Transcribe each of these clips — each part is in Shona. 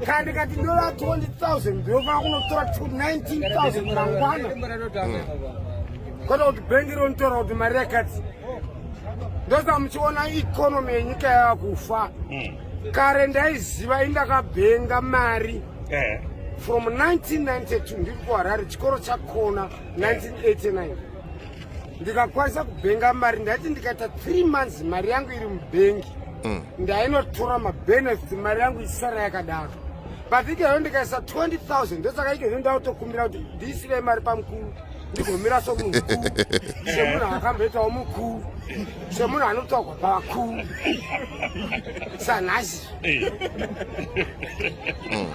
kandi kati ndova 20000 ndinofanira kunotora 19000 mangwana kwata kuti bhengi rinotora kuti mari yakati ndosa muchiona ikonomi yenyika yava kufa hmm. kare ndaiziva indakabhenga mari eh. from 1992 ndiri kuharare chikoro chakona 1989 ndikakwanisa kubhenga mari ndaiti ndikaita three months mari yangu iri mubhengi mm. ndainotora mabenefits mari yangu isara yakadaro but ikeyo ndikaisa 20000 ndosaka ikeyo ndautokumbira kuti ndiisire mari pamukuru ndigomira somunhu mukuru semunhu akamboitawo mukuru semunhu anotogwa pavakuru sanhasi mm.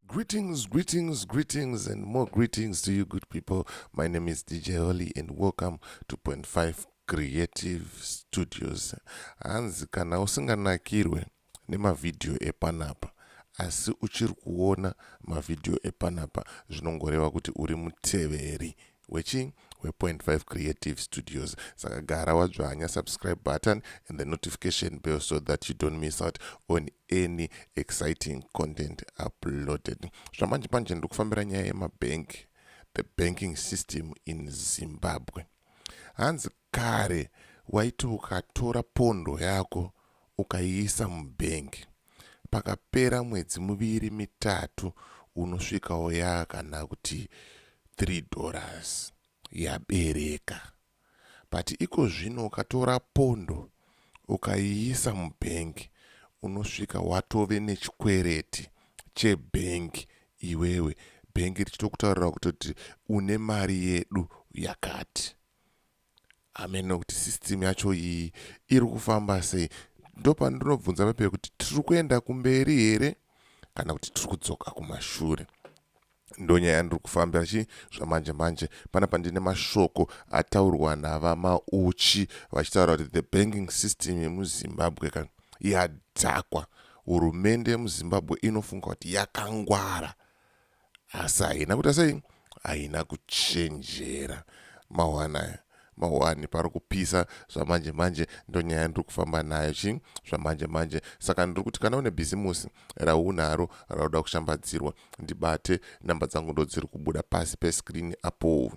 Greetings, greetings, greetings, and more greetings to you, good people. My name is DJ Holly, and welcome to Point Five Creative Studios. Hanzi kana usinganakirwe nemavhidhiyo epanapa asi uchiri kuona mavhidhiyo epanapa zvinongoreva kuti uri muteveri Hwechi hwe Point 5 Creative Studios. Saka gara wadzvanya subscribe button and the notification bell so that you don't miss out on any exciting content uploaded. Zvamanje manje ndiri kufambira nyaya yemabank, the banking system in Zimbabwe. Hanzi Kare waiti ukatora pondo yako ukaiisa mubank pakapera mwedzi muviri mitatu unosvikawo yava kana kuti three dollars yabereka but iko zvino ukatora pondo ukaiisa mubank unosvika watove nechikwereti chebank iwewe bank richitokutaurira kutoti une mari yedu yakati hameno kuti system yacho iyi iri kufamba sei ndopandinobvunza papeya kuti tiri kuenda kumberi here kana kuti tiri kudzoka kumashure ndonyaya ndiri kufamba chi zvamanje manje pana pandine mashoko ataurwa navamauchi vachitaura kuti the banking system yemuzimbabwe ka yadhakwa hurumende yemuzimbabwe inofunga kuti yakangwara asi haina kuita sei haina kuchenjera mahwanaya mahwani pari kupisa zvamanje manje ndonyaya yandiri kufamba nayo chii zvamanje manje saka ndiri kuti kana une bhizimusi raunaro rauda kushambadzirwa ndibate namba dzangu ndodziri kubuda pasi peskrini apo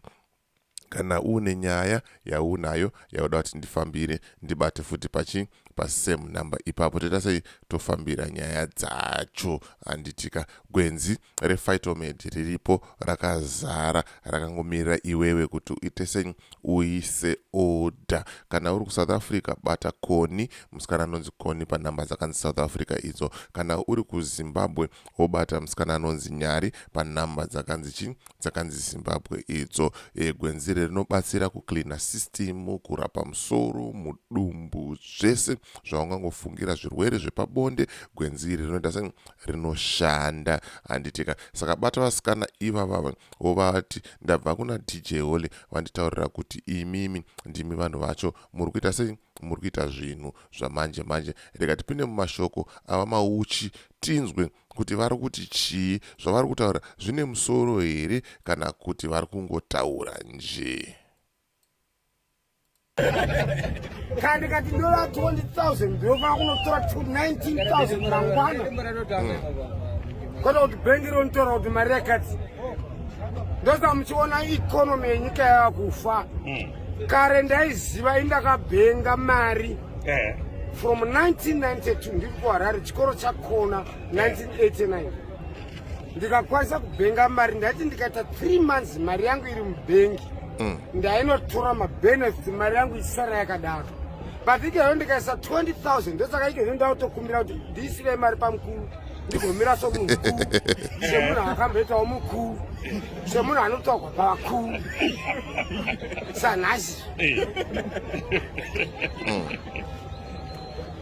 Kana uine nyaya yaunayo yauda kuti ndifambire ndibate futi pachi pasame number ipapo toita sei tofambira nyaya dzacho handitika gwenzi refightomed riripo rakazara rakangomirira iwewe kuti uite sei uise order kana uri kusouth africa bata koni musikana anonzi koni panhamba dzakanzi south africa idzo kana uri kuzimbabwe obata musikana anonzi Nyari panhamba dzakanzi chi dzakanzi Zimbabwe idzo. E, gwenzi iri rinobatsira kucleana system, kurapa musoro, mudumbu, zvese zvaungangofungira zvirwere zvepabonde. Gwenzi iri rinoita sei? Rinoshanda handitika. Saka bata vasikana ivavava wovati ndabva kuna DJ Holy vanditaurira kuti imimi ndimi vanhu vacho muri kuita sei? Muri kuita zvinhu zvamanje manje rega tipinde mumashoko ava mauchi tinzwe kuti vari kuti chii zvavari kutaura zvine musoro here kana kuti vari kungotaura njee kandi kati ndola 20000 ndinofanira kunotora 19000 mangwana hmm. kwata kuti bhengi ronitora kuti mari yakati ndosa muchiona economy yenyika yava kufa hmm. kare ndaiziva indakabhenga mari eh. from 1992 ndiri kuharare chikoro chakona 1989 ndikakwanisa kubhenga mari ndaiti ndikaita 3 months mari yangu iri mubhengi hmm. ndainotora mabenefit mari yangu isara yakadaro but ikeyo ndikaisa 20000 ndosaka ikeyo ndautokumbira kuti ndiisire mari pamukuru ndikomira somunhu semunhu akamboitawo mukuru semunhu anotogwa pavakuru sanhasi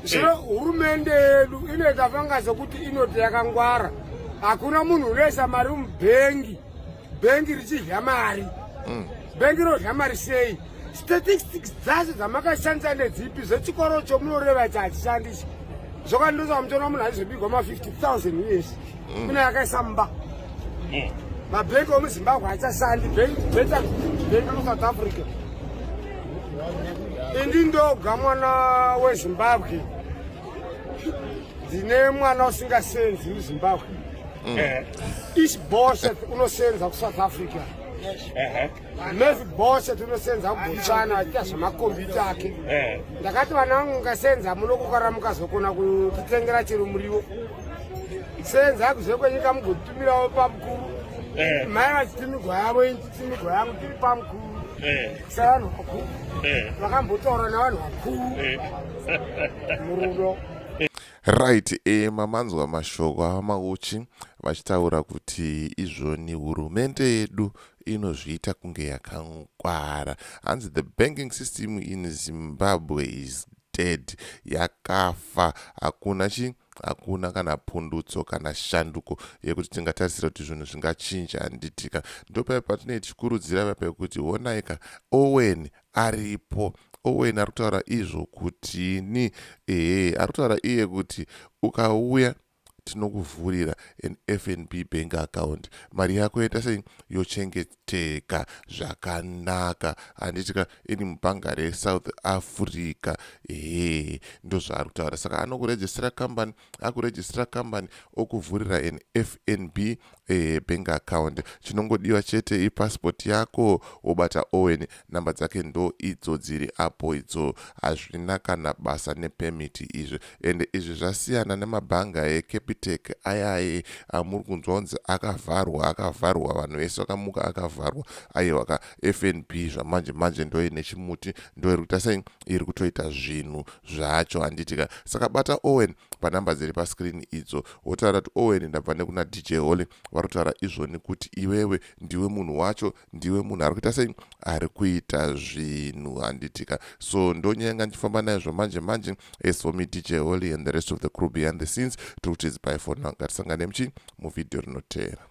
zvino hurumende yedu inoita fanga sekuti inoti yakangwara hakuna munhu unoisa mari mubhengi bhengi richidya mari mm. bhengi rinodya mari sei statistics dzacho dzamakashandisa nedzipi zvechikoro chomunoreva ichi hachishandisi zvokandiroza vamutoona munhu aizobigwa ma 50000 uyesi mm. kune yakaisa mumba mm. mabhengi omuzimbabwe hachashandi beta bhengi kusouth africa indi ndoga mwana wezimbabwe ndine mwana usingasenzi muzimbabwe mm. eh. each bosset unosenza kusouth africa mese bose tinosenza kubotswana aita zvemakombiyuta ake eh. ndakati vana vangu ngasenza muno kukara mukazokona kutitengera chero muriwo senza kuze kwenyika mugotumirawo pamukuru eh. mai vachitimigwa yavo ichitimigwa yangu tiri pamukuru eh. sevanhu vakuru vakambotaura navanhu vakuru murudo Right, e, mamanzwa mashoko avamauchi vachitaura kuti izvoni hurumende yedu inozviita kunge yakangwara hanzi the banking system in zimbabwe is dead yakafa hakuna chi hakuna kana pundutso kana shanduko yekuti tingatarisira kuti zvinhu zvingachinja handitika ndopaya patinei tichikurudzira vapekuti honaika owen aripo Owen ari kutaura izvo kutini ehe ari kutaura iye kuti ukauya tinokuvhurira an fnb bank account mari yako yoita sei yochengeteka zvakanaka handitika ini mubhanga resouth africa ehe ndozvaari kutaura saka anokurejistira kambani akuregistira company okuvhurira an fnb eh, bank account chinongodiwa chete ipassport yako wobata owen namba dzake ndo idzo dziri apo idzo hazvina kana basa nepermit izvi ende izvi zvasiyana nemabhanga ecapitec ayaye amuri kunzwa kunzi akavharwa akavharwa vanhu vese vakamuka akavharwa aiwaka fnb zvamanje manje ndoine chimuti ndoiri kuita sei iri kutoita zvinhu zvacho handiti ka saka bata owen panumber dziri pascreen idzo wotaura kuti owen ndabva nekuna dj holy vari kutaura izvoni kuti iwewe ndiwe munhu wacho ndiwe munhu ari kuita sei ari kuita zvinhu handiti ka so ndonyanga ndichifamba naye zvomanje manje as for me dj holy and the rest of the crew behind the scenes tiri kuti its by for now ngatisangane muchii muvhidhiyo rinoteera